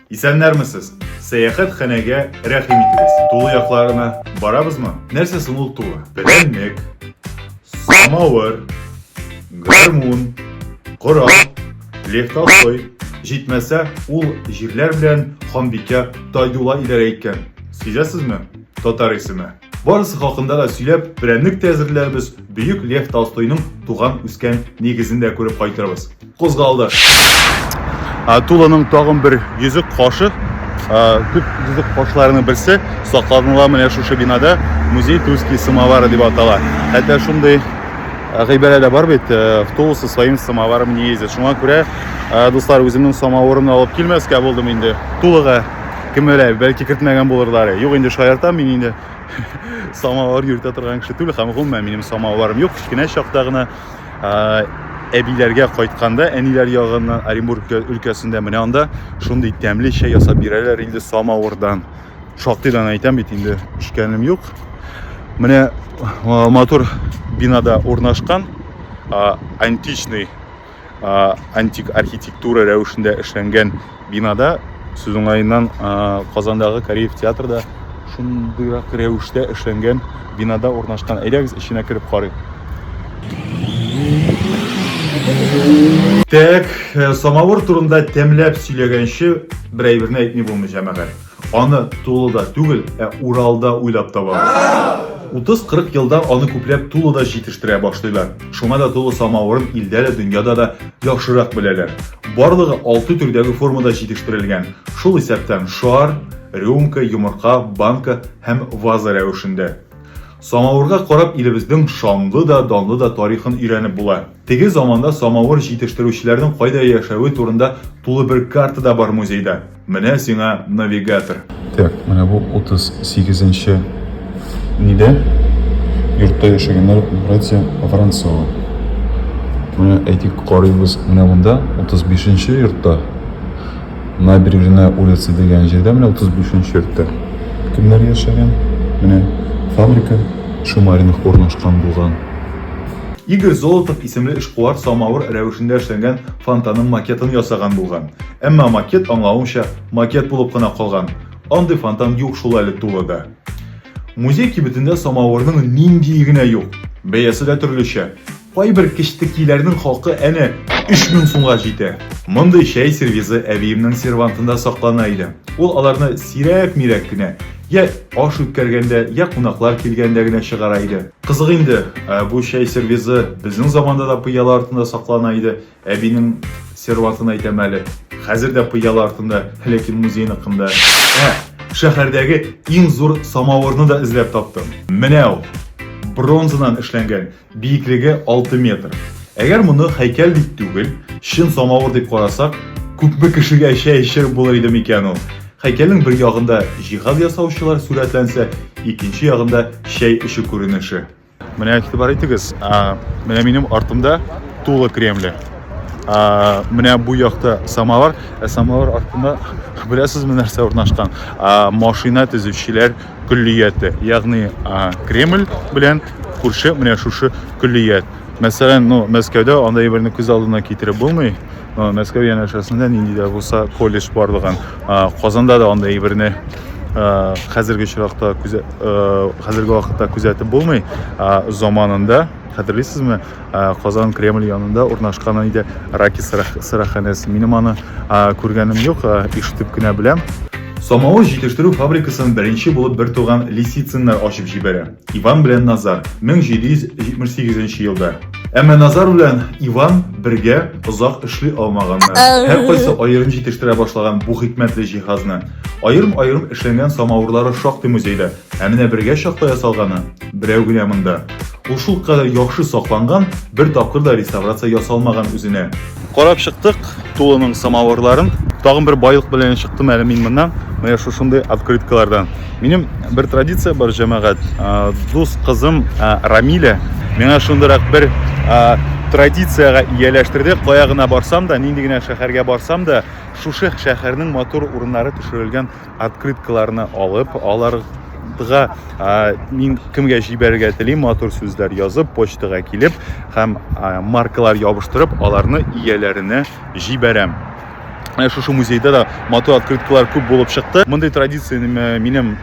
Исәннәрмесез! Сәяхәт хәнәгә рәхим итегез. Тулы якларына барабызмы? Нәрсә соң ул тулы? Прәннек, самавыр, гармун, корал, лехталсой. Җитмәсә, ул җирләр белән ханбикә Тайдула идарә иткән. Сизәсезме? Татар исеме. Барысы хакында да сөйләп, прәннек тә әзерләрбез, бөек Лев Толстойның туган үскән нигезен дә күреп кайтырбыз. Кузгалды. Тулының тагын бер йөзек кашы, күп йөзек кашларының берсе сакланыла менә шушы бинада музей Тульский самовары дип атала. Хәтта шундый гыйбарә дә бар бит, в Тулу со своим самоваром не ездит. Шуңа күрә, дуслар, үземнең самавырымны алып килмәскә булдым инде Тулыга. кем белә бәлки кертмәгән булырлар юк инде шаяртам мин инде самавыр йөртә торган кеше түгел һәм гомумән минем самавырым юк кечкенә чакта гына әбиләргә кайтканда әниләр ягыннан оренбург өлкәсендә менә анда шундый тәмле чәй ясап бирәләр инде самавырдан шактыйдан әйтәм бит инде эчкәнем юк менә матур бинада урнашкан античный антик архитектура рәвешендә эшләнгән бинада сез уңаеннан Казандагы Кореев театрда шундыйрак рәвештә эшләнгән бинада урнашкан. Әйдәгез эченә кереп карыйк. Так, э, самавыр турында тәмләп сөйләгәнче, бер әйберне әйтми булмый, җәмәгать. Аны Тулыда түгел, ә Уралда уйлап табалар. 30-40 елда аны күпләп Тулыда җитештерә башлыйлар. Шуңа да Тулы самавырын илдә дә, дөньяда да яхшырак беләләр. Барлыгы 6 төрдәге формада җитештерелгән. Шул исәптән шар, рюмка, йомырка, банка һәм ваза рәвешендә. Самавырга карап илебезнең шанлы да, данлы да тарихын өйрәнеп була. Теге заманда самавыр җитештерүчеләрнең кайда яшәве турында тулы бер карта да бар музейда. Менә сиңа навигатор. Так, менә бу 38 нче нидә? Йортта яшәгәннәр братья Воронцова. Менә әйтик карыйбыз, менә монда 35 нче йортта. Набережная улица дигән җирдә менә 35 нче йортта. Кемнәр яшәгән? Менә фабрика Шумаринов урнашкан булган. Игорь Золотов исемле эшкуар самавыр рәвешендә эшләнгән фонтанның макетын ясаган булган. Әмма макет аңлавымча макет булып кына калган. Андый фонтан юк шул әле тулы да. Музей кибетендә самавырның нинди генә юк. Бәясе дә төрлечә. Кайбер кечтекиләрнең хакы әнә 3000 сумга җитә. Мондый чәй сервизы әбиемнең сервантында саклана иде. Ул аларны сирәк-мирәк кенә, я аш үткәргәндә, я кунаклар килгәндә генә чыгара иде. Кызык инде, ә бу чәй сервизы безнең заманда да пыяла артында саклана иде. Әбинең серватын әйтәм әле. Хәзер дә пыяла артында Һәләкин музеен ыкында. Ә, шәһәрдәге иң зур самавырны да эзләп таптым. Менә ул. Бронзадан эшләнгән, биеклеге 6 метр. Әгәр моны һәйкәл дип түгел, чын самавыр дип карасак, күпме кешегә чәй эчереп булыр иде микән ул? Һәйкәлнең бер ягында җиһаз ясаучылар сурәтләнсә, икенче ягында чәй эчү күренеше. Менә игътибар итегез, менә минем артымда тулы кремле. Менә бу якта самовар, ә самовар артында беләсезме нәрсә урнашкан? Машина төзүчеләр көллияте, ягъни Кремль белән күрше менә шушы көллият. Мәсәлән, ну Мәскәүдә андай берне күз алдына китереп булмый. Мәскәү янәшәсендә нинди дә булса колледж барлыгын, Казанда да андый әйберне хәзерге очракта хәзерге вакытта күзәтеп булмый. Заманында хәтерлисезме, Казан Кремль янында урнашкан иде Раки сыраханәсе. Минем аны күргәнем юк, ишетеп кенә беләм. Самавыр җитештерү фабрикасын беренче булып бертуган Лисициннар ачып җибәрә. Иван белән Назар 1778 нче елда. Әмма Назар белән Иван бергә озак эшли алмаганнар. Һәр кайсы аерым җитештерә башлаган бу хикмәтле җиһазны. Аерым-аерым эшләнгән самавырлары шактый музейда, ә менә бергә чакта ясалганы берәү генә монда. Ул шулкадәр яхшы сакланган, бер тапкыр да реставрация ясалмаган үзенә. Карап чыктык тулының самавырларын. Тагын бер байлык белән чыктым әле мин моннан. Менә шушындый открыткалардан. Минем бер традиция бар җәмәгать. Дус кызым Рамиля миңа шундырак бер традициягә ияләштерде. Кая гына барсам да, нинди генә шәһәргә барсам да, шушы шәһәрнең матур урыннары төшерелгән открыткаларны алып, аларга мин кемгә җибәрергә телим, матур сүзләр язып, почтага килеп һәм маркалар ябыштырып, аларны ияләренә җибәрәм. Ә шушы музейда да матур открыткалар күп булып чыкты. Мондый традицияне минем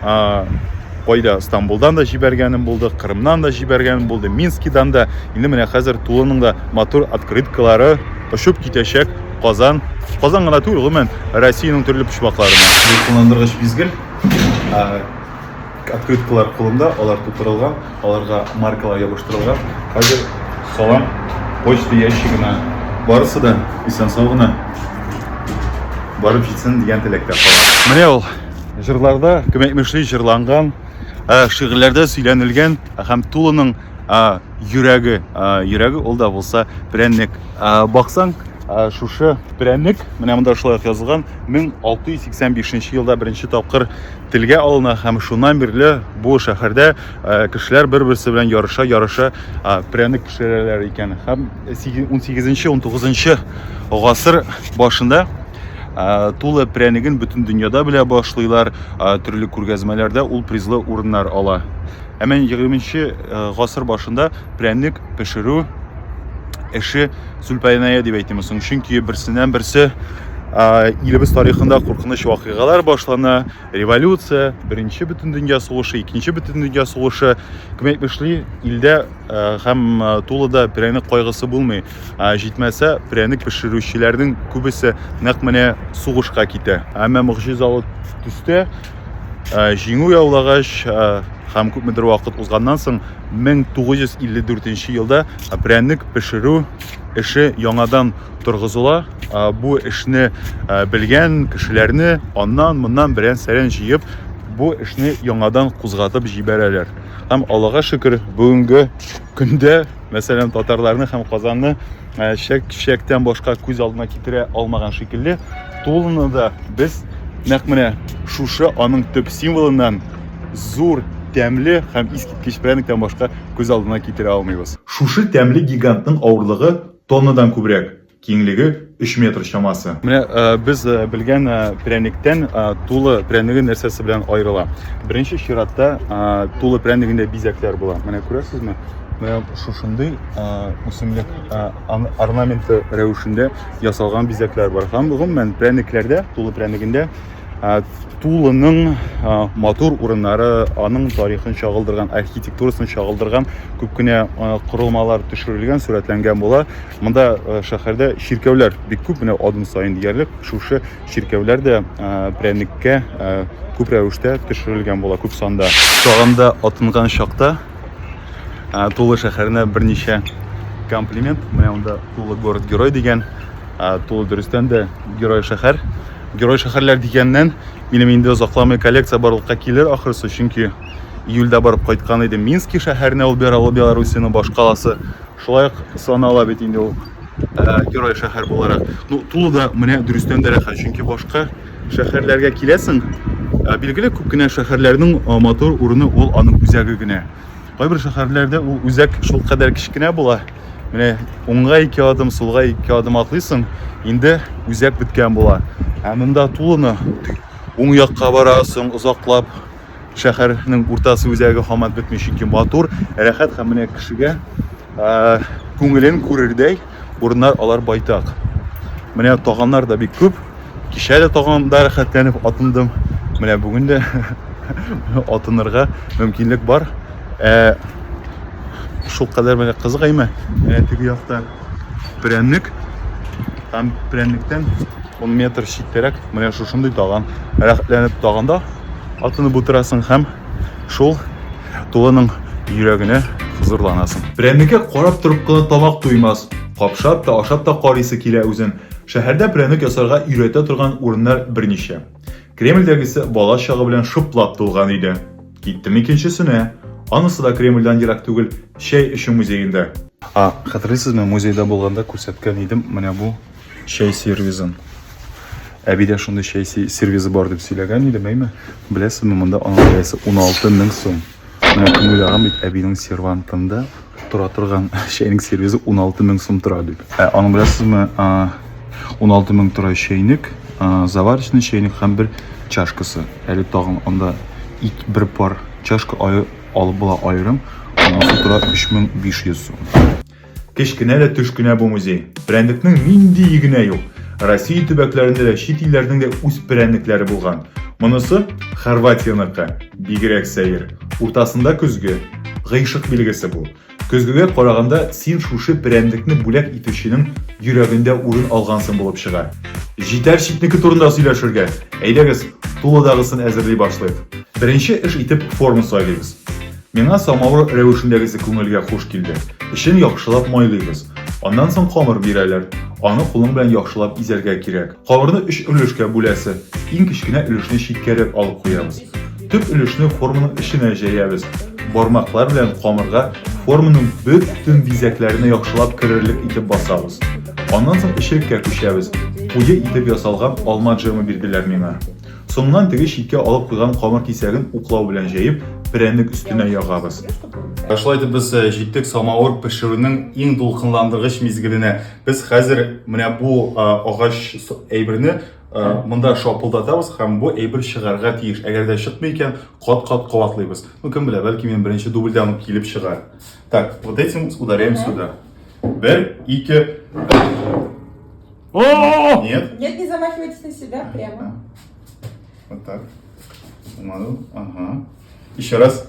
кайда Стамбулдан да җибәргәнем булды, Кырымнан да җибәргәнем булды, Минскидан да. Инде менә хәзер тулының да матур открыткалары очып китәчәк. Казан, Казан гына түгел, гомумән, Россиянең төрле почмакларына. Кулландыргыч мизгел открыткалар кулында, алар тутырылган, аларга маркалар ябыштырылган. Хәзер салам почта ящигына барысы да исән сау гына барып җитсен дигән теләктә кала. Менә ул җырларда, кем әйтмешли, җырланган, шигырьләрдә сөйләнелгән һәм тулының а, йөрәге, а, йөрәге ул да булса прәннек. А, баксаң, а, шушы прәннек, менә монда шулай язылган, 1685 елда беренче тапкыр телгә алына һәм шуннан бирле бу шәһәрдә а, кешеләр бер-берсе белән ярыша, ярыша а, прәннек пешерәләр икән. Һәм 18-19 гасыр башында Ә, Тулы прәнеген бөтен дөньяда белә башлыйлар, ә, төрле күргәзмәләрдә ул призлы урыннар ала. Ә менә 20 э, гасыр башында прәнек пешерү эше сүлпәйнәя дип әйтеме соң, чөнки берсеннән берсе ә, илебез тарихында куркыныч вакыйгалар башлана, революция, беренче бөтен дөнья сугышы, икенче бөтен дөнья сугышы, кем әйтмешли, илдә ә, һәм ә, тулыда прәнек кайгысы булмый. Ә җитмәсә, пряник пешерүчеләрнең күбесе нәкъ менә сугышка китә. Әмма могҗизалы төстә җиңү яулагач һәм күпмедер вакыт узганнан соң 1954 елда пряник пешерү эше яңадан торгызыла. Бу эшне белгән кешеләрне аннан моннан берән сәрән җыеп, бу эшне яңадан кузгатып җибәрәләр. Һәм Аллага шөкер, бүгенге көндә Мәсәлән, татарларны һәм Казанны э, чәк-чәктән башка күз алдына китерә алмаган шикелле, Тулыны да без нәкъ менә шушы аның төп символыннан зур, тәмле һәм искиткеч пряниктан башка күз алдына китерә алмыйбыз. Шушы тәмле гигантның авырлыгы тоннадан күбрәк. Киңлеге 3 метр чамасы. Менә без белгән пряниктән тулы прянигы нәрсәсе белән аерыла? Беренче чиратта тулы прянигендә бизәкләр була. Менә күрәсезме? Менә шушындый үсемлек орнаменты рәвешендә ясалган бизәкләр бар. Һәм гомумән пряникләрдә, тулы прянигендә тулының матур урыннары, аның тарихын чагылдырган, архитектурасын чагылдырган күп кенә корылмалар төшерелгән, сурәтләнгән була. Монда шәһәрдә чиркәүләр бик күп, менә адым саен диярлек шушы чиркәүләр дә прәнеккә күп рәвештә төшерелгән була, күп санда. Тагында атынган чакта Тулы шәһәренә берничә комплимент. Менә монда Тулы город герой дигән, Тулы дөрестән дә герой шәһәр. Герой шәһәрләр дигәннән, минем инде озакламый коллекция барлыкка килер ахрысы, чөнки июльдә барып кайткан идем Мински шәһәренә, ул Белоруссиянең башкаласы. Шулай ук санала бит инде ул герой шәһәр буларак. Ну, Тулы да менә дөрестән дә рәхәт, чөнки башка шәһәрләргә киләсең, билгеле күп кенә шәһәрләрнең матур урыны ул аның үзәге генә. Кайбер шәһәрләрдә ул үзәк шул кадәр кечкенә була. Менә уңга ике адым, сулга ике адым атлыйсың, инде үзәк беткән була. Ә монда Тулыны уң якка барасың, озаклап шәһәрнең уртасы үзәге хамат бетми, чөнки матур, рәхәт һәм менә кешегә күңелен күрердәй урыннар алар байтак. Менә таганнар да бик күп. Кичә дә таганда рәхәтләнеп атындым. Менә бүген дә атынырга мөмкинлек бар. Ә шул кадәр менә кызык әйме? Менә теге яктан прәнек һәм прәнектән 10 метр читтәрәк менә шушындый таган рәхәтләнеп таганда атынып утырасың һәм шул тулының йөрәгенә хозурланасың прәнеккә карап торып кына тамак туймас капшап та ашап та карыйсы килә үзен шәһәрдә прәнек ясарга өйрәтә торган урыннар берничә кремльдәгесе бала чагы белән шыплап тулган өйдә Киттем икенчесенә. Анысы да Кремльдән ерак түгел, чәй эчү музеенда. А, хәтерлисезме, музейда булганда күрсәткән идем менә бу чәй сервизын. Әбидә шундый чәй сервизы бар дип сөйләгән идем, әйме? Беләсезме, монда аның бәясе 16 мең сум. Менә кем уйлаган бит әбинең сервантында тора торган чәйнек сервизы 16 мең сум тора дип. Ә аның беләсезме, 16 мең тора чәйнек, заварочный чәйнек һәм бер чашкасы. Әле тагын анда ик бер пар чашка алып була аерым, анысы тора 3500 сум. Кечкенә дә төшкенә бу музей. Прәндекнең нинди игенә юк. Россия төбәкләрендә дә чит илләрнең дә үз прәндекләре булган. Монысы Хорватияныкы, бигрәк сәер. Уртасында көзге. Гыйшык билгесе бу. Көзгегә караганда син шушы перәнлекне бүләк итүченең йөрәгендә урын алгансың булып чыга. Җитәр читнеке турында сөйләшергә. Әйдәгез, тулыдагысын әзерли башлыйк. Беренче эш итеп форма сайлыйбыз. Миңа самавыр рәвешендәгесе күңелгә хуш килде. Эчен яхшылап майлыйбыз. Аннан соң камыр бирәләр. Аны кулың белән яхшылап изәргә кирәк. Кабырны өч өлешкә бүләсе. Иң кечкенә өлешне читкәрәк алып куябыз. Төп өлешне форманың эченә җәябез. Бармаклар белән камырга форманың бөтен бизәкләренә яхшылап керерлек итеп басабыз. Аннан соң эчлеккә күчәбез. Куе итеп ясалган алма джемы бирделәр миңа. Соңыннан теге читкә алып куйган камыр кисәген уклау белән җәеп, прәннек өстенә ягабыз. Шулай итеп без җиттек самавыр пешерүнең иң дулкынландыргыч мизгеленә. Без хәзер менә бу агач әйберне монда шапылдатабыз һәм бу әйбер чыгарга тиеш. Әгәр дә чыкмый икән, кат-кат кабатлыйбыз. Ну, кем белә, бәлки мин беренче дубльдән үк килеп чыгар. Так, вот этим ударяем сюда. Бер, ике. О! Нет? Нет, не замахивайтесь на себя прямо. Вот так. Помаду. Ага. Еще раз.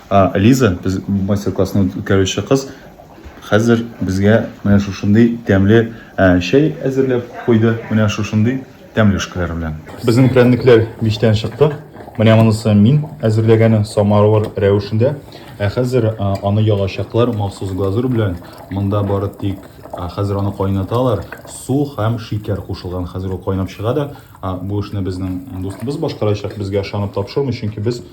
А, Лиза, без мастер-классны үткәрүче кыз, хәзер безгә менә шушындый тәмле ә, чәй әзерләп куйды. Менә шушындый тәмле шкәләр белән. Безнең прәннекләр мичтән чыкты. Менә монысы мин әзерләгәне самовар рәвешендә. Ә хәзер а, аны ялачаклар махсус глазур белән. Монда бары тик а, хәзер аны кайнаталар. Су һәм шикәр кушылган. Хәзер ул кайнап чыга да, а, бу эшне безнең дустыбыз башкарачак. Безгә ышанып тапшырмый, чөнки без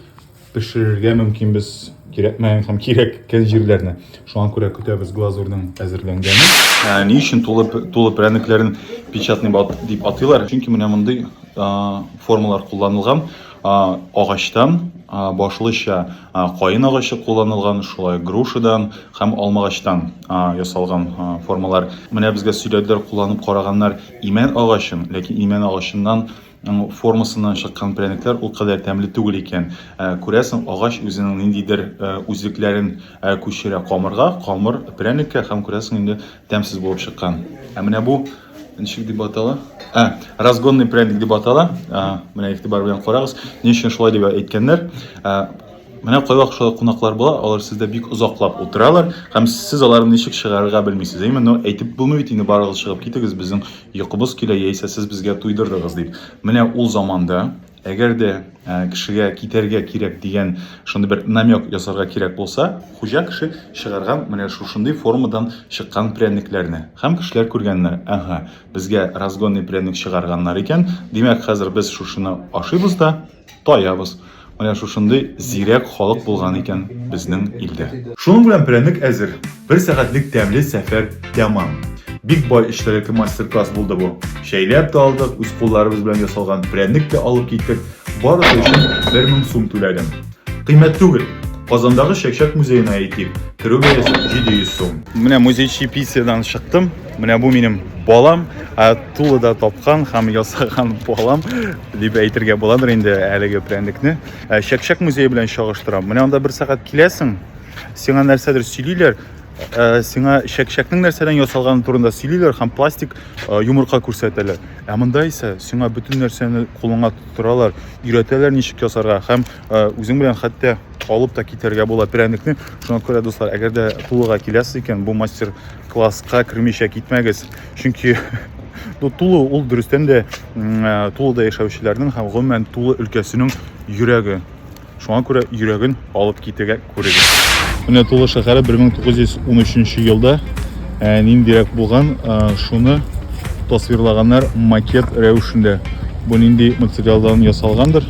пешерергә мөмкинбез кирәкмәгән һәм кирәккән җирләрне. Шуңа күрә көтәбез глазурның әзерләнгәнен. Ә, ни өчен тулы, тулы прәнекләрен печатный бат дип атыйлар? Чөнки менә мондый формалар кулланылган. Агачтан башлыча каен агачы кулланылган, шулай грушадан һәм алмагачтан ясалган формалар. Менә безгә сөйләделәр, кулланып караганнар имән агачын, ләкин имән агачыннан Ну, формасыннан чыккан прәнекләр ул кадәр тәмле түгел икән. Ә, күрәсең, агач үзенең ниндидер ә, үзлекләрен ә, күчерә камырга, камыр прәнеккә һәм күрәсең инде тәмсез булып чыккан. Ә менә бу ничек дип атала? Ә, разгонный прәник дип атала. Ә, менә игътибар белән карагыз. Ни өчен шулай дип әйткәннәр? Ә, Менә кайвак шулай кунаклар була, алар сездә бик озаклап утыралар, һәм сез аларны ничек чыгарырга белмисез, әйеме? Но әйтеп булмый бит инде, барыгыз чыгып китегез, безнең йокыбыз килә, яисә сез безгә туйдырдыгыз, дип. Менә ул заманда, әгәр дә кешегә китәргә кирәк дигән шундый бер намек ясарга кирәк булса, хуҗа кеше чыгарган менә шушындый формадан чыккан пряникләрне. Һәм кешеләр күргәннәр, әһә, безгә разгонный пряник чыгарганнар икән, димәк, хәзер без шушыны ашыйбыз да, Таябыз. Менә шушындый зирәк халык булган икән безнең илдә. Шуның белән прәнек әзер. Бер сәгатьлек тәмле сәфәр тәмам. Бик бай эчтәлекле мастер-класс булды бу. Чәйләп тә алдык, үз кулларыбыз белән ясалган прәнек тә алып киттек. Барысы өчен 1000 сум түләдем. Кыйммәт түгел. Казандагы Чәкчәк музеена әйтик, керү бәясе 700 сум. Менә музейчи писиядән чыктым. Менә бу минем балам. тулы да тапкан һәм ясаган балам дип әйтергә буладыр инде әлеге прәндекне ә, чәкчәк музее белән чагыштырам менә анда бер сәгать киләсең сиңа нәрсәдер сөйлиләр ә, сиңа чәкчәкнең нәрсәдән ясалганы турында сөйлиләр һәм пластик ә, йомырка күрсәтәләр ә монда исә сиңа бөтен нәрсәне кулыңа тоттыралар өйрәтәләр ничек ясарга һәм ә, үзең белән хәтта алып та китәргә була прәндекне шуңа күрә дуслар әгәр дә тулыга киләсез икән бу мастер класска кермичә китмәгез чөнки ну, тулы ул дөрестән дә ә, тулыда яшәүчеләрнең һәм гомумән тулы өлкәсенең йөрәге шуңа күрә йөрәген алып китергә күрегез менә тулы шәһәре 1913 елда ә, ниндирәк булган ә, шуны тасвирлаганнар макет рәвешендә бу нинди материалдан ясалгандыр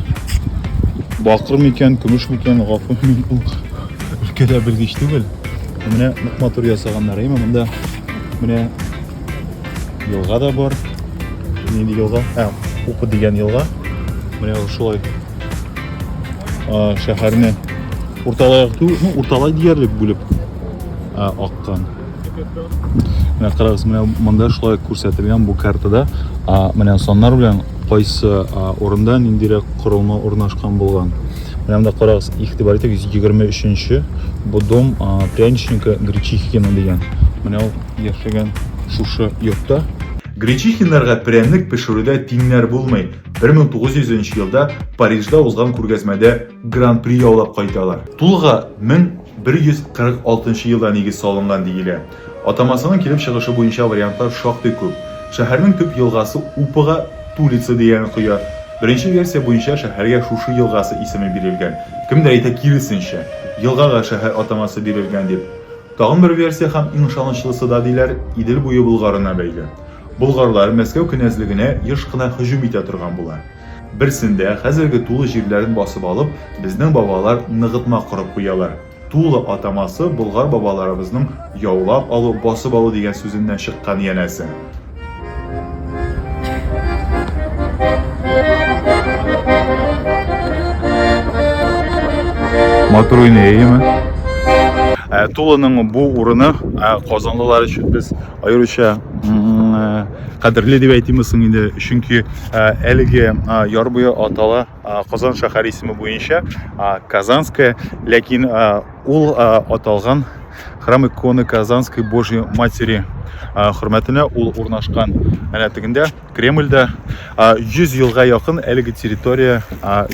бакыр микән көмеш микән гафу мин ул өлкәдә белгеч түгел менә нык матур ясаганнар әйме монда Менә елга да бар. Нинди елга? Ә, Упы дигән елга. Менә шулай шәһәрне урталай акту, ну, урталай диярлек бүлеп аккан. Менә карагыз, менә монда шулай күрсәтелгән бу картада, менә саннар белән кайсы урында ниндирәк корылма урнашкан булган. Менә монда карагыз, игътибар итеп 123 нче бу дом пряничника Гречихина дигән. Менә ул яшәгән шушы йортта. Гречихиннарга пряник пешерүдә тиңнәр булмый. 1900 нче елда Парижда узган күргәзмәдә гран-при яулап кайталар. Тулга 1146 нчы елда нигез салынган диелә. Атамасының килеп чыгышы буенча вариантлар шактый күп. Шәһәрнең төп елгасы Упыга Тулица дигән коя. Беренче версия буенча шәһәргә шушы елгасы исеме бирелгән. Кемдер әйтә киресенчә, елгага шәһәр атамасы бирелгән дип. Тагын бер версия һәм иң ышанычлысы да, диләр, Идел буе Болгарына бәйле. Болгарлар Мәскәү кенәзлегенә еш кына һөҗүм итә торган була. Берсендә, хәзерге Тулы җирләрен басып алып, безнең бабалар ныгытма корып куялар. Тулы атамасы Болгар бабаларыбызның яулап алу, басып алу дигән сүзеннән чыккан, янәсе. Матур уйны, әйеме? Ә, Тулының бу урыны ә, казанлылар өчен без аеруча кадерле дип әйтимме соң инде, чөнки ә, әлеге яр буе атала Казан шәһәр исеме буенча Казанская, ләкин ул аталган храм иконы Казанской Божьей Матери хөрмәтенә ул урнашкан. Әнә тегендә Кремльдә 100 елга якын әлеге территория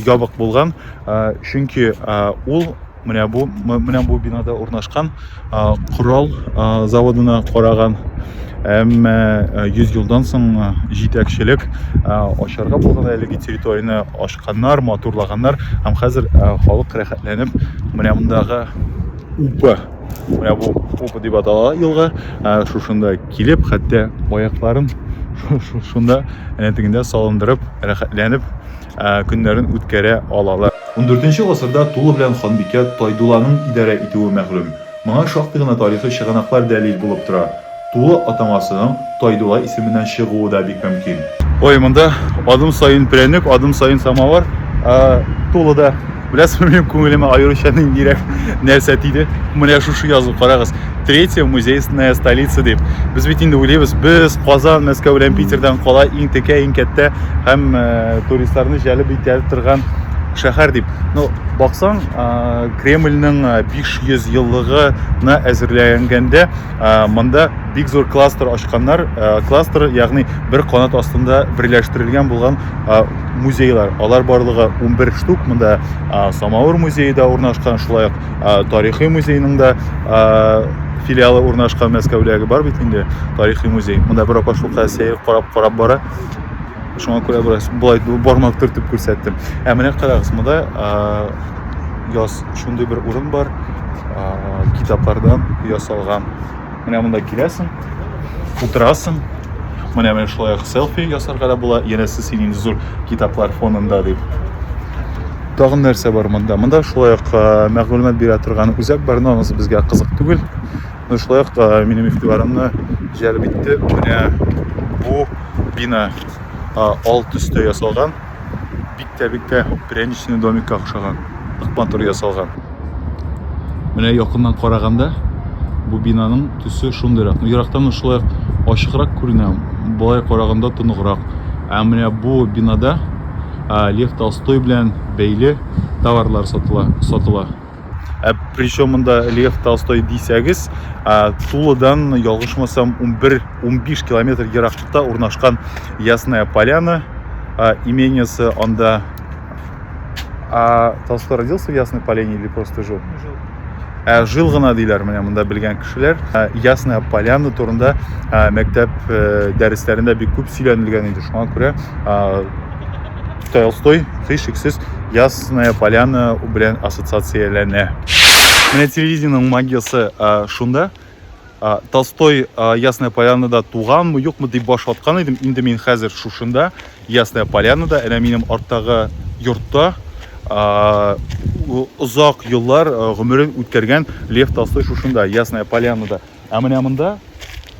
ябык булган, чөнки ул Менә бу менә бу бинада урнашкан корал заводына караган әмма 100 елдан соң җитәкчелек ашарга булган әлеге территорияне ашканнар, матурлаганнар һәм хәзер халык рәхәтләнеп менә мондагы упы менә бу упы дип атала елга шушында килеп хәтта аякларын шунда әнә тегендә салындырып рәхәтләнеп көннәрен үткәрә алалар. Ундүртенче гасырда тулы белән ханбикә Тайдулланың идарә итүе мәгълүм. Моңа шактый гына тарихи чыганаклар дәлил булып тора. Тулы атамасының Тайдулла исеменнән чыгуы да бик мөмкин. Ой, монда адым саен прәнек, адым саен самавыр. Тулы да. Беләсезме, минем күңелемә аеруча ниндирәк нәрсә тиде? Менә шушы язу, карагыз. Третья музейная столица дип. Без бит инде уйлыйбыз, без Казан, Мәскәү белән Питердан кала иң текә, иң кәттә һәм э, туристларны җәлеп итә торган шәһәр дип. Ну, баксаң, э, Кремльнең 500 э, еллыгына әзерләнгәндә монда бик зур кластер ачканнар. Кластер, ягъни бер канат астында берләштерелгән булган музейлар алар барлыгы 11 штук монда самауыр музейы да урнашкан шулай ук тарихи музейның да филиалы урнашкан мәскәүдәге бар бит инде тарихи музей монда бер апа шулкадәр сәер карап карап бара шуңа күрә бераз болай бармак төртеп күрсәттем ә менә карагыз монда яз шундый бер урын бар китаплардан ясалган Менә монда киләсең, утырасың. Менә менә шулай селфи ясарга да була. Янәсе син инде зур китаплар фонында дип. Тагын нәрсә бар монда? Монда шулай ук мәгълүмат бирә торган үзәк бар, но анысы безгә кызык түгел. Но шулай ук минем игътибарымны җәлеп итте. Менә бу бина ал төстә ясалган. Бик тә бик тә пряничный домикка охшаган. Нык матур ясалган. Менә якыннан караганда бу бинаның төсе шундыйрак. Ну, ерактан ук шулай ачыграк күренә, болай караганда тоныграк. Ә менә бу бинада Лев Толстой белән бәйле товарлар сатыла. Ә причем монда Лев Толстой дисәгез, Тулыдан ялгышмасам 11-15 километр еракчыкта урнашкан Ясная Поляна имениясы анда А Толстой родился в Ясной Поляне или просто жил? Жил. Ә, жил гына диләр менә монда белгән кешеләр. Ә, Ясная Поляна турында ә, мәктәп ә, дәресләрендә бик күп сөйләнелгән иде. Шуңа күрә Толстой, Хыш-Иксис, Ясная Поляна белән ассоциацияләнә. Менә телевидениеның магиясе шунда. Толстой Ясная Полянада туганмы, юкмы дип баш ваткан идем. Инде мин хәзер шушында, Ясная Полянада, әнә минем арттагы йортта озак еллар гомерен үткәргән Лев Толстой шушында, Ясная Полянада. Ә менә монда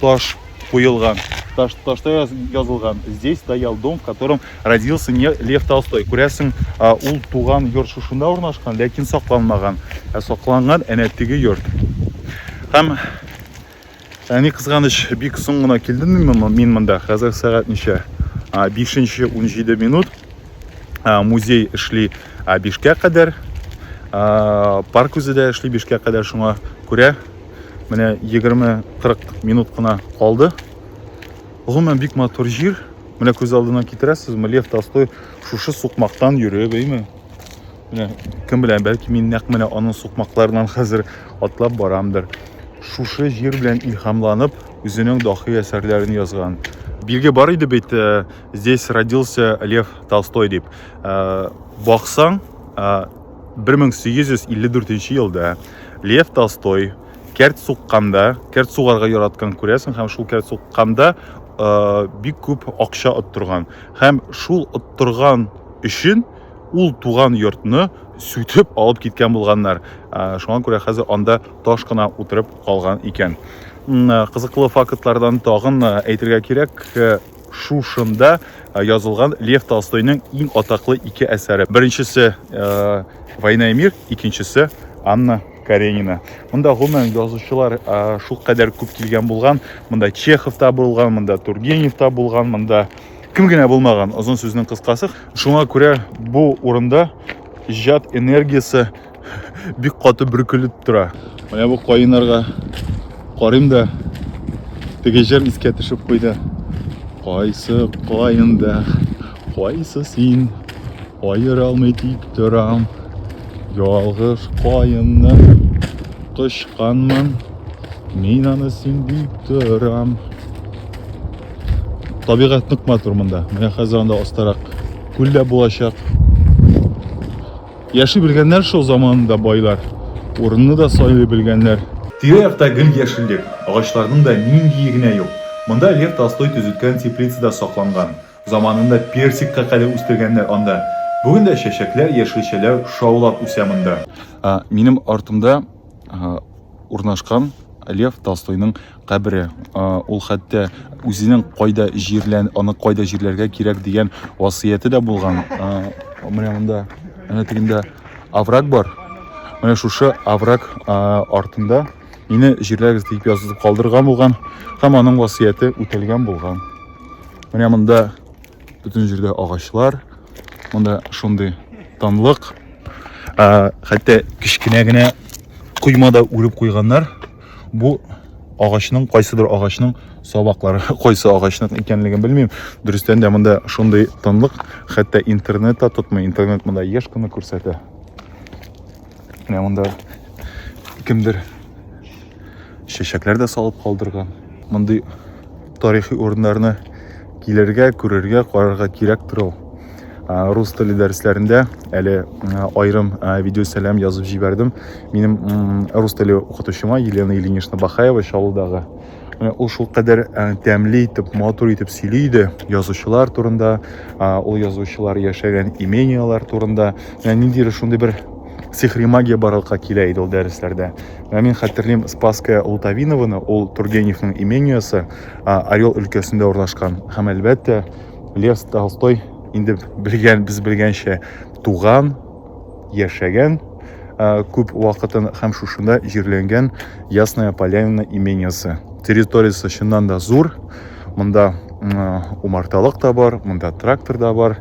таш куелган. Таш, ташта яз, язылган. Здесь стоял дом, в котором родился не Лев Толстой. Күрәсең, ул туган йорт шушында урнашкан, ләкин сакланмаган. Ә сакланган әнә теге йорт. Һәм әни кызганыч бик соң гына килдем мин монда. Хәзер сәгать ничә? 5:17 минут. Музей эшли 5-кә кадәр. Парк үзе дә эшли 5-кә кадәр шуңа күрә Менә 20-40 минут кына калды. Гомумән бик матур җир. Менә күз алдына китерәсезме, Лев Толстой шушы сукмактан йөреп, әйме? Менә кем белән, бәлки мин нәкъ менә аның сукмакларынан хәзер атлап барамдыр. Шушы җир белән илһамланып, үзенең дахи әсәрләрен язган. Билге бар иде бит, э, здесь родился Лев Толстой дип. Э, баксаң, 1854 э, елда Лев Толстой кәрт сукканда, кәрт сугарга яраткан күрәсең һәм шул кәрт сукканда э, бик күп акча оттырган. Һәм шул оттырган өчен ул туган йортны сүтеп алып киткән булганнар. Э, шуңа күрә хәзер анда таш кына утырып калган икән. Э, кызыклы фактлардан тагын әйтергә кирәк, шушында э, язылган Лев Толстойның иң атаклы ике әсәре. Беренчесе э, Война и мир, икенчесе Анна Каренина. Монда гомумән язучылар э, шул кадәр күп килгән булган. Монда Чехов та булган, монда Тургенев та булган, монда кем генә булмаган, озын сүзнең кыскасы. Шуңа күрә бу урында иҗат энергиясе Бик каты бөркелеп тора. Менә бу каеннарга карыйм да теге җыр искә төшеп куйды. Кайсы каенда, кайсы син, аера алмый тик торам. Ялгыш каенны кочканмын, мин аны син дип торам. Табигать нык матур монда. Менә хәзер анда астарак күл дә булачак. Яши белгәннәр шул заманында байлар, урынны да сайлый белгәннәр. Тирә-якта гел яшеллек, агачларның да ниндие генә юк. Монда Лев Толстой төзеткән теплица да сакланган. Заманында персикка кадәр үстергәннәр анда. Бүген дә чәчәкләр, яшелчәләр шаулап үсә монда. Минем артымда урнашкан Лев Толстойның кабере. Ул хәтта үзенең кайда җирлән, аны кайда җирләргә кирәк дигән васыяте дә булган. Менә монда, менә тегендә аврак бар. Менә шушы аврак артында мине җирләгез дип язып калдырган булган һәм аның васыяте үтәлгән булган. Менә монда Бүтін жерде ағашлар. Монда шундый тынлык. Ә, хәтта кечкенә генә коймада үреп куйганнар. Бу агачның кайсыдыр агачның сабаклары кайсы агачның икәнлеген белмим. Дөрестән дә монда шундый тынлык, хәтта интернет та тотмый. Интернет монда еш кына күрсәтә. Менә монда кемдер чәчәкләр дә салып калдырган. Мондый тарихи урыннарны килергә, күрергә, карарга кирәк тору. Рус теле дәресләрендә әле аерым видео сәлам язып җибәрдем. Минем рус теле укытучыма Елена Ильинична Бахаева Чаллыдагы Э, ул шул кадәр э, тәмле итеп матур итеп сөйли иде язучылар турында ул язучылар яшәгән имениялар турында ниндидер шундый бер сихри магия барлыкка килә иде ул дәресләрдә ә мин хәтерлим спасская лутовинованы ул тургеневның имениясы орел өлкәсендә урнашкан һәм әлбәттә лев толстой инде белгән без белгәнчә туган яшәгән ә, күп вакытын һәм шушында җирләнгән Ясная Поляна имениясе. Территориясе чыннан да зур. Монда умарталык та бар, монда трактор да бар.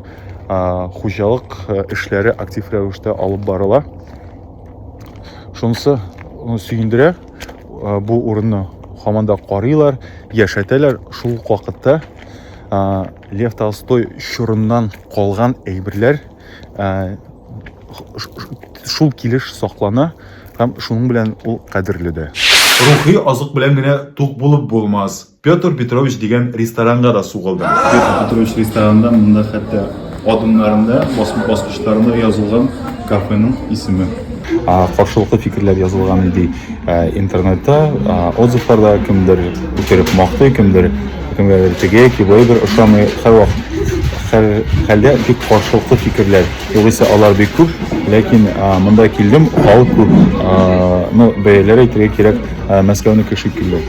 Ә, хуҗалык э, эшләре актив рәвештә алып барыла. Шунысы сөендерә, э, бу урынны һаман да карыйлар, яшәтәләр. Шул вакытта Лев Толстой чорыннан калган әйберләр ә, шул килеш саклана һәм шуның белән ул кадерле дә. Рухи азык белән генә тук булып булмас. Петр Петрович дигән ресторанга да сугылдым. Петр Петрович ресторанында монда хәтта адымнарында, баскычларында язылган кафеның исеме. Каршылыклы фикерләр язылган ди интернетта, отзывларда кемдер үтереп мактый, кемдер Кемгә бер теге, кибой бер ошамый, һәрвак хәлдә бик каршылыклы фикерләр. Югыйсә алар бик күп, ләкин монда килдем, ал күп. Ну, бәяләр әйтергә кирәк, Мәскәүне кеше килде.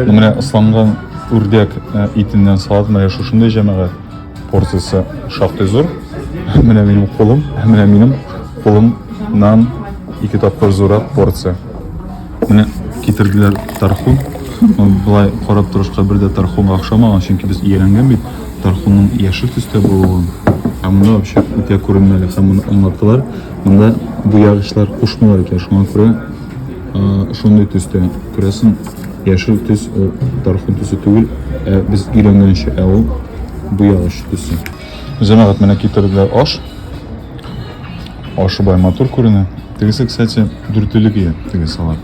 Менә ысланган үрдәк итеннән салат, менә шушындый җәмәгать. Порциясе шактый зур. Менә минем кулым, менә минем кулымнан ике тапкыр зуррак порция. Менә китерделәр тархун. Былай карап торышка бер дә тархунга охшамаган, чөнки без ияләнгән бит тархунның яшел төстә булуын. Ә монда вообще үтә күренмәле һәм моны аңлаттылар. Монда буягычлар кушмыйлар икән, шуңа күрә шундый төстә күрәсең Яшел төс ул тархун төсе түгел, ә без өйрәнгәнчә, ә ул буягач төсе. Җәмәгать менә китерделәр аш. Ашы бай матур күренә. Тегесе, кстати, дүртелек ия тегесе алар.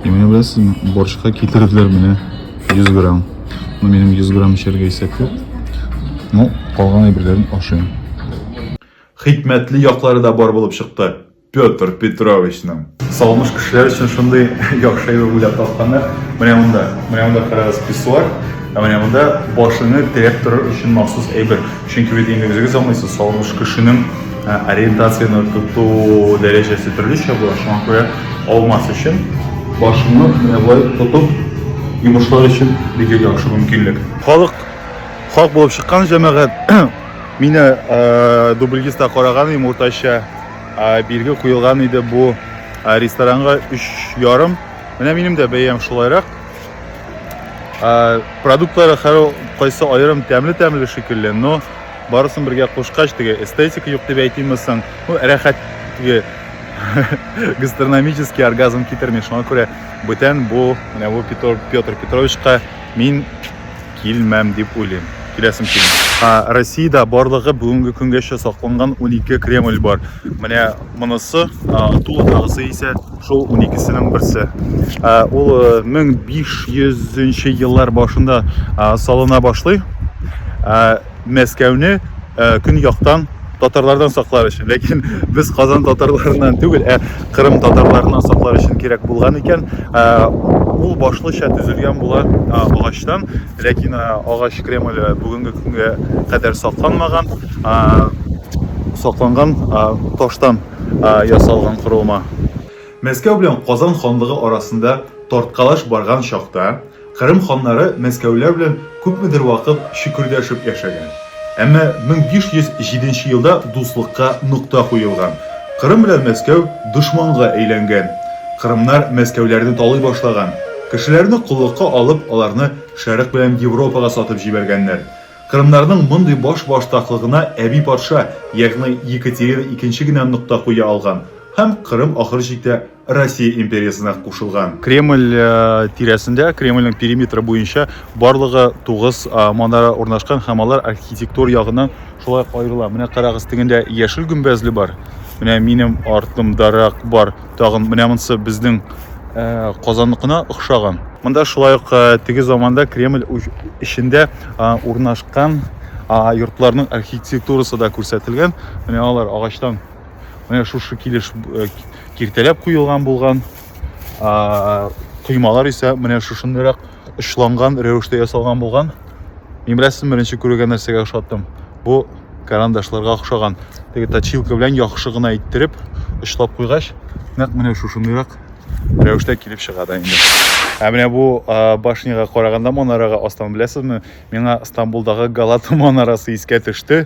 И менә беләсезме, борщка китерделәр менә 100 грамм. Ну, минем 100 грамм эчәргә исәп юк. Ну, калган әйберләрен ашыйм. Хикмәтле яклары да бар булып чыкты. Петр Петровичның. Салмыш кешеләр өчен шундый яхшы әйбер уйлап тапканнар. Менә монда, менә монда карагыз писсуар, ә менә монда башыңны терәп торыр өчен махсус әйбер. Чөнки бит инде үзегез аңлыйсыз, салмыш кешенең ә, ориентацияне тоту дәрәҗәсе төрлечә була. Шуңа күрә алмас өчен башыңны менә болай тотып йомышлар өчен бик яхшы мөмкинлек. Халык хак булып чыккан җәмәгать. Мине ә, дубльгиста караган идем уртача Бирге куелган иде бу ресторанга өч ярым. Менә минем дә бәям шулайрак. Продуктлары һәр кайсы аерым тәмле-тәмле шикелле, но барысын бергә кушкач теге эстетика юк дип әйтимме соң? Ну, рәхәт теге гастрономический оргазм китерми. Шуңа күрә бүтән бу, менә бу Петр Петровичка мин Килмәм дип уйлыйм. Киләсем килми. Ә Россиядә барлыгы бүгенге көнгәчә сакланган унике Кремль бар. Менә монысы, ә, тулы тагысы исә шул уникесенең берсе. Ә, ул 1500 нче еллар башында, ә, салына башлый. Ә, Мәскәүне көньяктан татарлардан саклар өчен, ләкин без Казан татарларыннан түгел, ә Кырым татарларыннан саклар өчен кирәк булган икән. Ул башлыча төзелгән була агачтан, ләкин агач Кремль бүгенге көнгә кадәр сакланмаган, сакланган таштан ясалган корылма. Мәскәү белән Казан ханлыгы арасында тарткалаш барган чакта, Кырым ханнары мәскәүләр белән күпмедер вакыт чөкердәшеп яшәгән. Әмма 1507 елда дуслыкка нокта куелган. Кырым белән Мәскәү дошманга әйләнгән. Кырымнар мәскәүләрне талый башлаган. Кешеләрне коллыкка алып, аларны Шәрык белән Европага сатып җибәргәннәр. Кырымнарның мондый башбаштаклыгына әби патша, ягъни Екатерина икенче генә нокта куя алган һәм Кырым ахыр чиктә Россия империясына кушылган. Кремль э, тирәсендә, Кремльнең периметры буенча барлыгы 9 э, манара урнашкан һәм алар архитектур ягыннан шулай аерыла. Менә карагыз, тегендә яшел гөмбәзле бар. Менә минем артымдарак бар. Тагын менә монсы безнең э, Казанныкына охшаган. Монда шулай ук теге заманда Кремль эчендә урнашкан йортларның архитектурасы да күрсәтелгән. Менә алар агачтан Менә шушы килеш э, киртәләп куелган булган коймалар исә менә шушындыйрак очланган рәвештә ясалган булган. Мин беләсез, беренче күргән нәрсәгә ошаттым. Бу карандашларга охшаган. Теге точилка белән яхшы гына иттереп очлап куйгач, нәкъ менә шушындыйрак рәвештә килеп чыга да инде. Ә менә бу башняга караганда манарага астан беләсезме? Миңа Стамбулдагы Галата манарасы искә төште.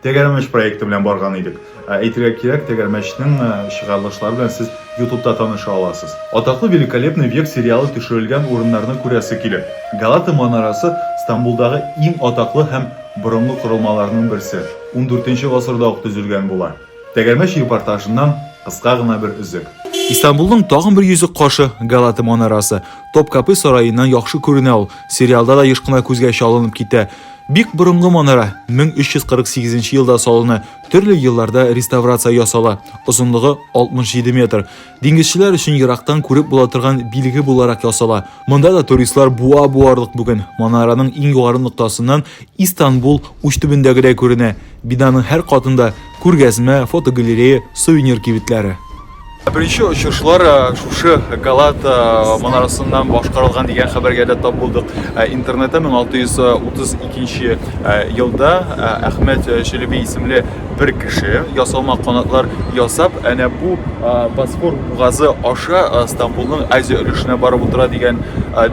Тәгәрмәч проекты белән барган идек. Ә әйтергә кирәк, Тәгәрмәчнең э, чыгарылышлары белән сез ютубта таныша аласыз. Атаклы Великолепный век сериалы төшерелгән урыннарны күрәсе килеп. Галата манарасы Стамбулдагы иң атаклы һәм борынгы корылмаларның берсе. 14 гасырда ук төзелгән була. Тәгәрмәч репортажыннан кыска гына бер өзек. Истанбулның тагын бер йөзек кашы, Галата манарасы. Топкапы сараеннан яхшы күренә ул. Сериалда да еш кына күзгә чалынып китә. Бик борынгы манара 1348 елда салына, төрле елларда реставрация ясала. Озынлыгы 67 метр. Диңгезчеләр өчен ерактан күреп була торган билге буларак ясала. Монда да туристлар буа буарлык бүген. Манараның иң югары ноктасыннан Истанбул уч төбендәгедәй күренә. Бинаның һәр катында Күргәзмә, фотогалерея, сувенир кибетләре. Беренче очышлар шушы Галат манарасыннан башкарылган дигән хәбәргә дә тап булдык. Интернетта 1632 елда Әхмәт Челеби исемле бер кеше ясалма канатлар ясап, әнә бу Босфор бугазы аша Стамбулның Азия өлешенә барып утыра дигән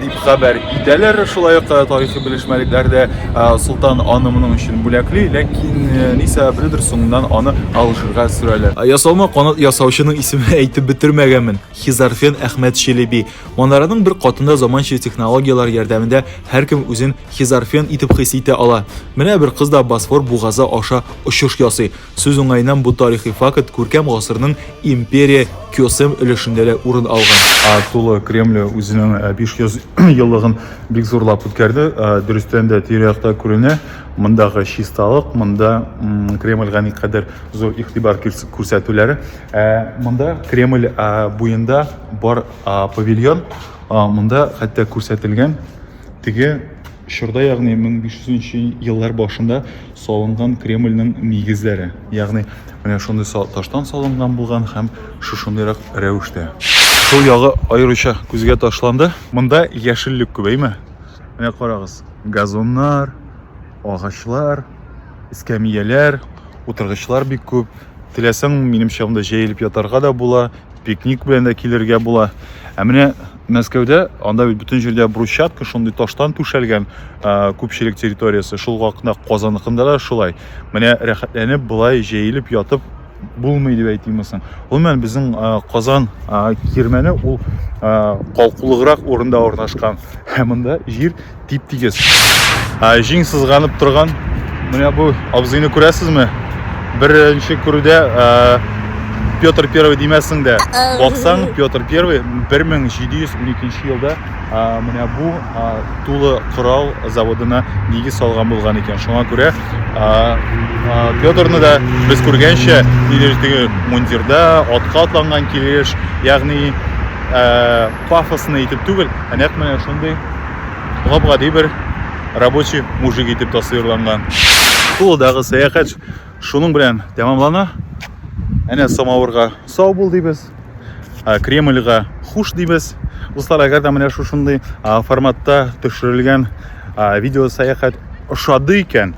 дип хәбәр итәләр. Шулай ук тарихи белешмәлекләр дә Солтан аны моның өчен бүләкли, ләкин ни сәбәпледер соңыннан аны Алжирга сөрәләр. Ясалма канат ясаучының исемен әйтеп бетермәгәнмен. Хизарфен Әхмәт Челеби. Манараның бер катында заманча технологияләр ярдәмендә һәркем үзен Хизарфен итеп хис итә ала. Менә бер кыз да Босфор бугазы аша очыш ясый. Сүз уңаеннан, бу тарихи факт күркәм гасырның империя Кёсем өлешендә дә урын алган. Аксулы Кремле үзенең 500 еллыгын бик зурлап үткәрде. Дөрестән дә, тирә-якта күренә мондагы чисталык, монда Кремльгә никадәр зур игътибар күрсәтүләре. Ә монда Кремль буенда бар павильон, монда хәтта күрсәтелгән теге Чорда, ягъни 1500 нче еллар башында салынган Кремльнең нигезләре. Ягъни менә шундый таштан салынган булган һәм шушындыйрак рәвештә. Сул ягы аеруча күзгә ташланды. Монда яшеллек күбәйме? Менә карагыз, газоннар, агачлар, эскәмияләр, утыргычлар бик күп. Теләсәң, минем чагымда җәелеп ятарга да була. пикник белән дә килергә була ә менә мәскәүдә анда бит бөтен җирдә брусчатка шундый таштан түшәлгән күпчелек территориясе шул вакытта казаныкында да шулай менә рәхәтләнеп былай җәелеп ятып булмый дип әйтимме соң гомумән безнең казан кирмәне ул калкулыграк урында урнашкан һәм монда җир тип тигез ә җиң сызганып торган менә бу абзыйны күрәсезме беренче күрүдә ә, петр первый димәсең дә баксаң петр первый 1712 елда ә, менә бу ә, тулы корал заводына нигез салган булган икән шуңа күрә ә, ә, петрны да без күргәнчә мундирда атка атланган килеш ягъни ә, пафосно итеп түгел, ә нәкъ менә шундый гап-гади бер рабочий мужик итеп тасвирланган. Тулыдагы сәяхәт шуның белән тәмамлана. Әнә самавырга сау бул дибез. Кремльга хуш дибез. Дуслар, әгәр дә менә шушындый форматта төшерелгән видео сәяхәт ошады икән,